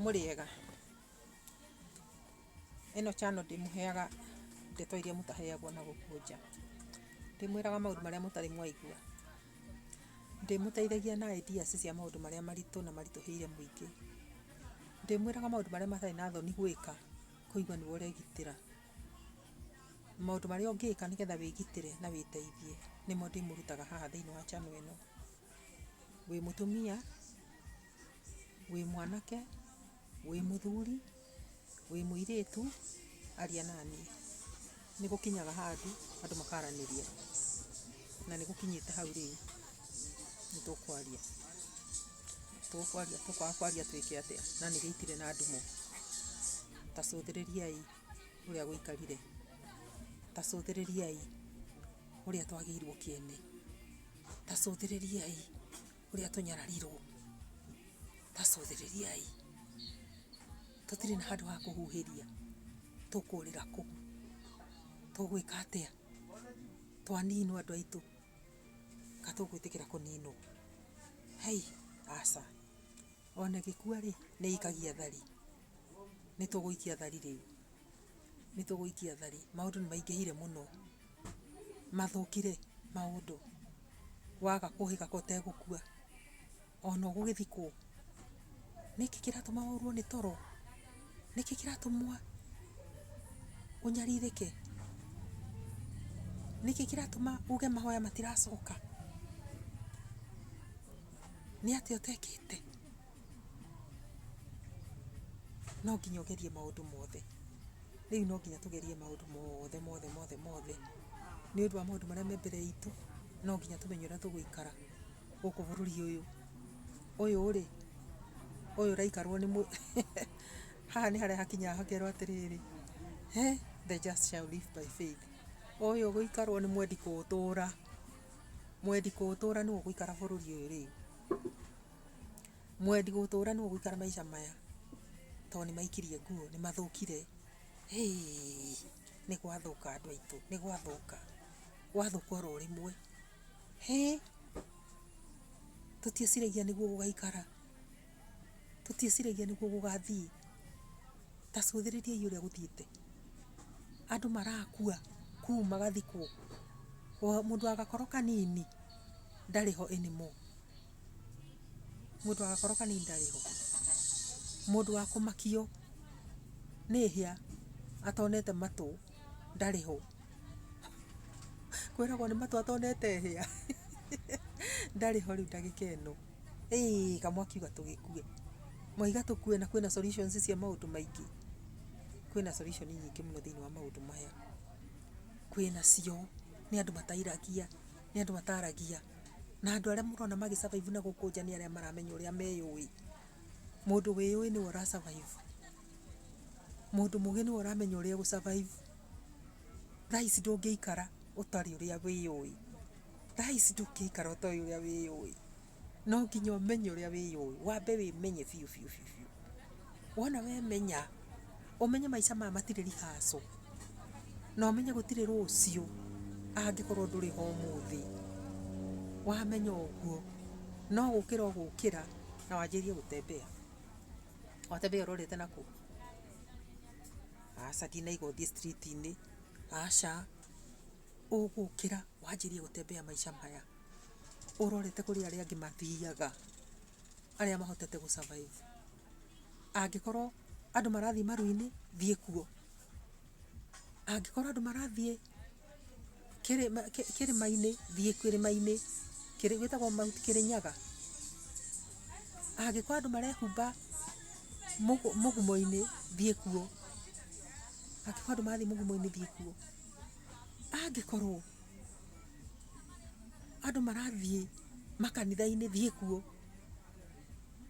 Mũrĩega? Ĩno channel ndĩmũheaga ndeto iria mũtaheagwo na gũkũ nja. Ndĩmwĩraga maũndũ marĩa mũtarĩ mwaigua. Ndĩmũteithagia na ideas cia maũndũ marĩa maritũ na maritũhĩire mũingĩ. Ndĩmwĩraga maũndũ marĩa matarĩ na thoni gwĩka kũigua nĩwe ũregitĩra. Maũndũ marĩa ũngĩka nĩgetha wĩgitĩre na wĩteithie nĩmo ndĩmũrutaga haha thĩinĩ wa channel ĩno. wĩ mũtumia, wĩ mwanake, wĩ mũthuri, wĩ mũirĩtu, aria naniĩ. Nĩ gũkinyaga handũ andũ makaranĩria, na nĩ gũkinyĩte hau rĩu nĩ tũkwaria. Tũkwaria, tũkwaga kwaria twĩke atĩa na nĩ gĩitire na ndumũ? Ta cũthĩrĩriai ũrĩa gũikarire, ta cũthĩrĩriai ũrĩa twagĩirwo kĩene. Tacũthĩrĩriai ũrĩa tũnyararirwo, tacũthĩrĩriai tũtirĩ na handũ ha kũhuhĩria, tũkũrĩra kũ? Tũgwĩka atĩa? Twaninwo andũ aitũ, ka tũgwĩtĩkĩra kũninwo? Hei, aca. Ona ĩgĩkua rĩ, nĩ ĩikagia thari. Nĩ tũgũikia thari rĩu, nĩ tũgũikia thari. Maũndũ nĩ maingĩhire mũno. mathũkire maũndũ waga kũhĩgaka ũtegũkua ona ũgũgĩthikwo. Nĩkĩ kĩratũma ũrwo nĩ toro? Nĩkĩ kĩratũma ũnyarirĩke? Nĩkĩ kĩratũma uge mahoya matiracoka? Nĩ atĩa ũtekĩte? no nginya ũgerie maũndũ mothe rĩu no nginya tũgerie maũndũ mothe mothe mothe mothe nĩ ũndũ wa maũndũ marĩa me mbere itũ no nginya tũmenye ũrĩa tũgũikara gũkũ bũrũri ũyũ ũyũ rĩ ũyũ ũraikarwo nĩ mũ- haha nĩ harĩa hakinyaga hakerwo atĩrĩrĩ "Eh, the just shall live by faith ũyũ ũgũikarwo nĩ mwendi kũũtũra mwendi kũũtũra nĩ ũgũikara bũrũri ũyũ rĩu Mwendi gũtũra nũ ũgũikara maica maya to nĩmaikirie nguo nĩmathũkire heeiĩ nĩgwathũka andũ aitũ nĩgwathũka gwathũka oro rĩmwe hĩĩ tũtieciragia nĩguo gũgaikara tũtieciragia nĩguo gũgathiĩ ta cũthĩrĩriai ũrĩa gũthiĩte andũ marakua kũu magathikwo mũndũ wa gakoro kanini ndarĩ ho anymore. mũndũ agakorwo kanini ndarĩ ho, mũndũ wa kũmakio nĩ hĩa atonete matũ ndarĩ ho, kwĩragwo nĩ matũ atonete hĩa ndarĩ ho rĩu ndagĩka ĩno, ĩĩ kamwe akiuga tũgĩkue, mwaiga tũkue na kwĩna solutions cia maũndũ maingĩ, kwĩna solutions nyingĩ mũno thĩinĩ wa maũndũ maya, kwĩnacio, nĩ andũ matairagia, nĩ andũ mataragia. Na andũ arĩa mũrona magĩ survive na gũkũ nja nĩ arĩa maramenya ũrĩa meyũĩ. Mũndũ wĩyũĩ nĩwe ũra survive. Mũndũ mũgĩ nĩwe ũramenya ũrĩa egũ survive. Thaa ici ndũngĩikara ũtarĩ ũrĩa wĩyũĩ. Thaa ici ndũngĩikara ũtoĩ ũrĩa wĩyũĩ. No nginya ũmenye ũrĩa wĩyũĩ. Wambe wĩmenye biũ biũ biũ biũ. Wona wemenya. Ũmenye maica maya matirĩ rehearsal, na ũmenye gũtirĩ rũciũ angĩkorwo ndũrĩ ho ũmũthĩ. Wamenya ũguo, no gũkĩra ũgũkĩra na wanjĩrĩrie gũ tembea. Wa tembea ũrorete na kũ? Aca ndinaigua ũthiĩ street inĩ, aca. Ũgũkĩra wanjĩrĩrie gũ tembea maica maya ũrorete kũrĩ arĩa angĩ mathiaga, arĩa mahotete gũ survive. Angĩkorwo andũ marathiĩ maru-inĩ, thiĩ kuo. Angĩkorwo andũ marathiĩ kĩrĩma kĩrĩma-inĩ, thiĩ kĩrĩma-inĩ. Kĩrĩ gĩtagwo Mount Kĩrĩnyaga. Angĩkorwo andũ marehumba mũgũ mũgumo-inĩ, thiĩ kuo. Angĩkorwo andũ marathiĩ mũgumo-inĩ, thiĩ kuo. Angĩkorwo andũ marathiĩ makanitha-inĩ, thiĩ kuo.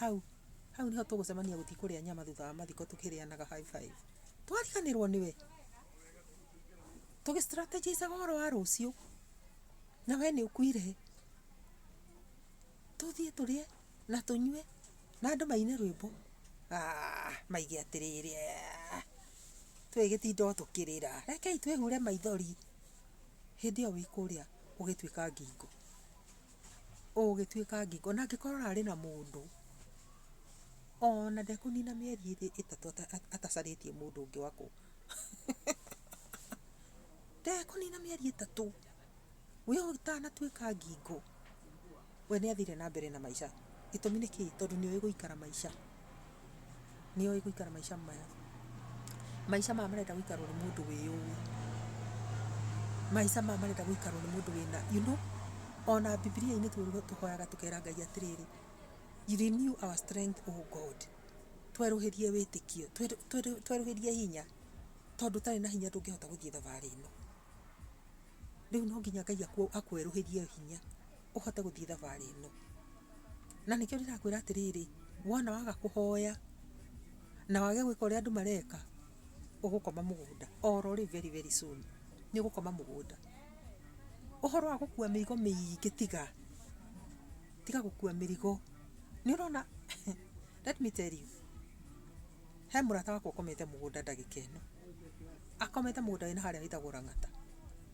Hau. Hau niho tũgũcemania gũthiĩ kũrĩa nyama thutha wa mathiko tũkĩrĩanaga high five. Twariganĩrwo nĩwe. Tũgĩ strategize ũhoro wa rũciũ. Na we nĩ ũkuire. Tũthiĩ tũrĩe na tũnyue na andũ maine rwĩmbo. Ah, maige atĩrĩrĩ. ah, Twĩgĩtinda o tũkĩrĩra. Rekei twĩhure maithori. Hĩndĩ ĩyo wĩ kũrĩa ũgĩtuĩka ngingo. ũgĩtuĩka ngingo, ona angĩkorwo ũrarĩ na mũndũ, ona ndekũnina mĩeri ĩrĩ ĩtatũ atacarĩtie mũndũ ũngĩ wa kũ ndekũnina mĩeri ĩtatũ we ũtanatuĩka ngingo, we nĩathiire na mbere na maica, gĩtũmi nĩ kĩĩ, tondũ nĩũĩ gũikara maica. nĩ oĩ gũikara maica maya. Maica maya marenda gũikarwo nĩ mũndũ wĩ ũĩ. Maica maya marenda gũikarwo nĩ mũndũ wĩna you know ona Bibilia-inĩ tũhoyaga tũkera Ngai atĩrĩrĩ, renew our strength O God. Twerũhĩrie wĩtĩkio, twerũhĩrie hinya tondũ ũtarĩ na hinya ndũngĩhota gũthiĩ thabarĩ ĩno. Rĩu no nginya Ngai akwerũhĩrie hinya. ũhote gũthiĩ thabarĩ ĩno. Na nĩkĩo ndĩrakwĩra atĩrĩrĩ, wona waga kũhoya, na wage gwĩka ũrĩa andũ mareka, ũgũkoma mũgũnda oro rĩu very very soon. Nĩ ũgũkoma mũgũnda. Ũhoro wa gũkua mĩrigo mĩingĩ tiga. Tiga gũkua mĩrigo. Nĩ ũrona let me tell you, he mũrata wakwa ũkomete mũgũnda ndagĩka ĩno. Akomete mũgũnda wĩna harĩa wĩtagwo Lang'ata.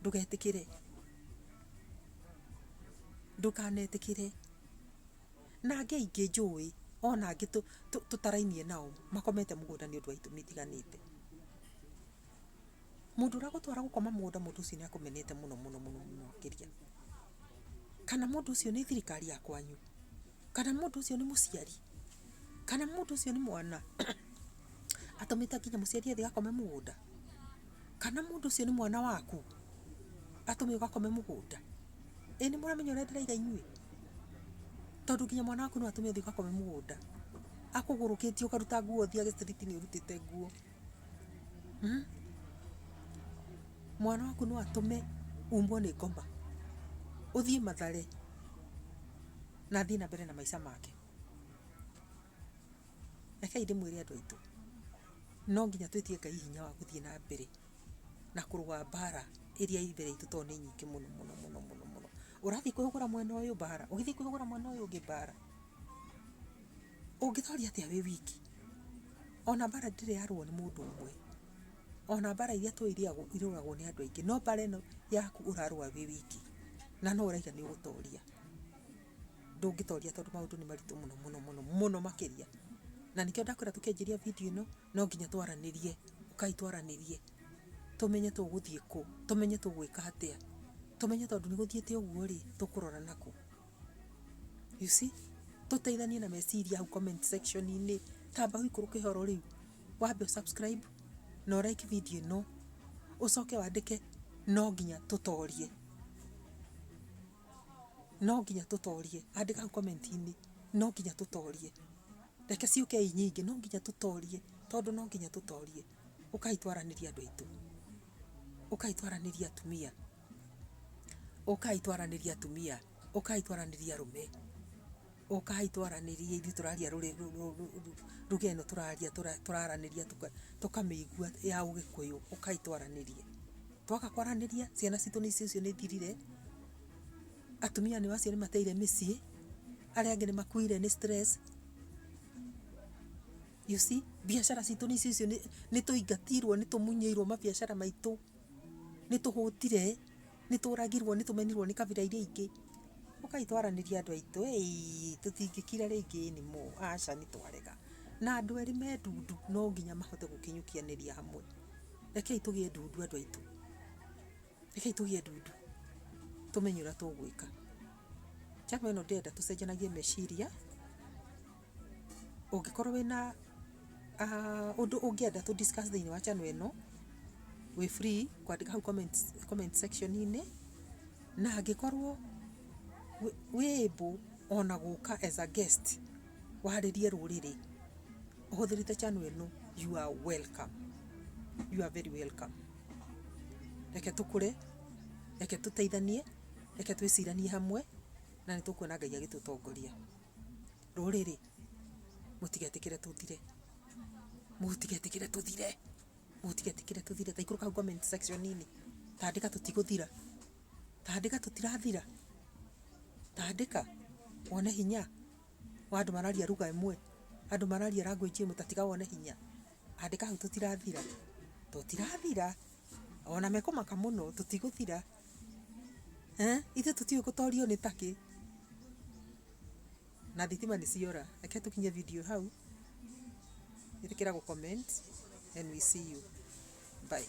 ndugetikire ndukanetikire na angĩ aingĩ njũĩ ona angĩ tũtarainie nao makomete mũgũnda nĩ ũndũ wa itũmi itiganĩte. Mũndũ ũragũtwara gũkoma mũgũnda mũndũ ũcio nĩ akũmenete mũno mũno mũno makĩria. Kana mũndũ ũcio nĩ thirikari ya kwanyu kana mũndũ ũcio nĩ mũciari, kana mũndũ ũcio nĩ mwana atũmĩte nginya mũciari athiĩ akome mũgũnda, kana mũndũ ũcio nĩ mwana waku atũme ũgakome mũgũnda. Ĩ nĩmũramenya ũrĩa ndĩrauga inyuĩ? Tondũ nginya mwana waku no atũme ũthiĩ ũgakome mũgũnda akũgũrũkĩtie ũkaruta nguo ũthiage street -inĩ ũrutĩte nguo. Mwana waku no atũme umbwo nĩ ngoma, ũthiĩ Mathare na athiĩ na mbere na maica make. Rekei ndĩmwĩre andũ aitũ, no nginya twĩtie Ngai hinya wa gũthiĩ na mbere na kũrũa mbara ĩrĩa ĩĩ mbere itũ tondũ nĩ nyingĩ mũno mũno mũno mũno mũno. Ũrathiĩ kwĩhũgũra mwena ũyũ mbara, ũgĩthiĩ kwĩhũgũra mwena ũyũ ũngĩ mbara. ũngĩtooria atĩa wĩ wiki ona mbara ndĩrĩ yarũo nĩ mũndũ ũmwe ona mbara iria tũĩ irĩagwo- irũagwo nĩ andũ aingĩ no mbara ĩno yaku ũrarũa wĩ wiki na no ũraiga nĩ ũgũtooria ndũngĩtooria tondũ maũndũ nĩ maritũ mũno mũno mũno mũno makĩria na nĩkĩo ndakwĩra tũkĩanjĩria video ĩno no nginya twaranĩrie ũkai twaranĩrie tũmenye tũgũthiĩ kũ tũmenye tũgwĩka atĩa tũmenye tondũ nĩ gũthiĩte ũguo rĩ tũkũrora nakũ You see? Tũteithanie na meciria hau comment section inĩ. Tamba ũikũrũke ihoro rĩu. Wambe ũ subscribe na ũ like video ĩno. Ũcoke wandĩke no nginya tũtorie. No nginya tũtorie. Andĩka hau comment inĩ no nginya tũtorie. Reke ciũke i nyingĩ no nginya tũtorie tondũ no nginya tũtorie. Ũkai twaranĩrie andũ aitũ. Ũkai twaranĩrie atumia. Ũkai twaranĩrie atumia, ũkai twaranĩrie arũme, ũkai twaranĩrie ithuĩ tũraria ruga ĩno tũraria tũraranĩria tũkamĩigua ya ũgĩkũyũ. Ũkai twaranĩrie. Twaga kwaranĩria ciana citũ icio nĩ ithirire, atumia nĩ acio nĩ mateire mĩciĩ, arĩa angĩ nĩ makuire nĩ stress. You see? Biacara citũ nĩ icio nĩ tũingatirwo nĩ tũmunyĩirwo mabiacara maitũ. nĩ tũhũtire, nĩ tũragirwo, nĩ tũmenirwo nĩ kabira iria ingĩ. Ũkai twaranĩrie andũ aitũ ĩĩ tũtingĩkira rĩngĩ anymore aca nĩ twarega. Na andũ erĩ me ndundu no nginya mahote gũkinyũkianĩria hamwe. Rekei tũgĩe ndundu andũ aitũ. Rekei tũgĩe ndundu tũmenye ũrĩa tũgwĩka. Chama ĩno ndĩrenda tũcenjanagie meciria. Ũngĩkorwo wĩna ũndũ ũngĩenda tũ discuss thĩinĩ wa channel ĩno, wĩ free kwandĩka hau comment section -inĩ. Na angĩkorwo wĩ able ona gũka as a guest warĩrie rũrĩrĩ ũhũthĩrĩte channel ĩno, you are welcome. You are very welcome. Reke tũkũre, reke tũteithanie, reke twĩciranie hamwe na nĩ tũkuona Ngai agĩtũtongoria. Rũrĩrĩ mũtigetĩkĩre tũthire, mũtigetĩkĩre tũthire, mũtigetĩkĩre tũthire. Ta ikũrũka hau comment section inĩ ta andĩka tũtigũthira, ta andĩka tũtirathira, ta andĩka wone hinya wa andũ mararia ruga ĩmwe, andũ mararia language ĩmwe ta tiga wone hinya. Andĩka hau tũtirathira, tũtirathira, ona mekũmaka mũno tũtigũthira. Eh, ithuĩ tũtiũĩ gũtorio nĩ takĩ na thitima nĩ ciora reke tũkinye video hau ĩtĩkĩra gũ comment and we see you bye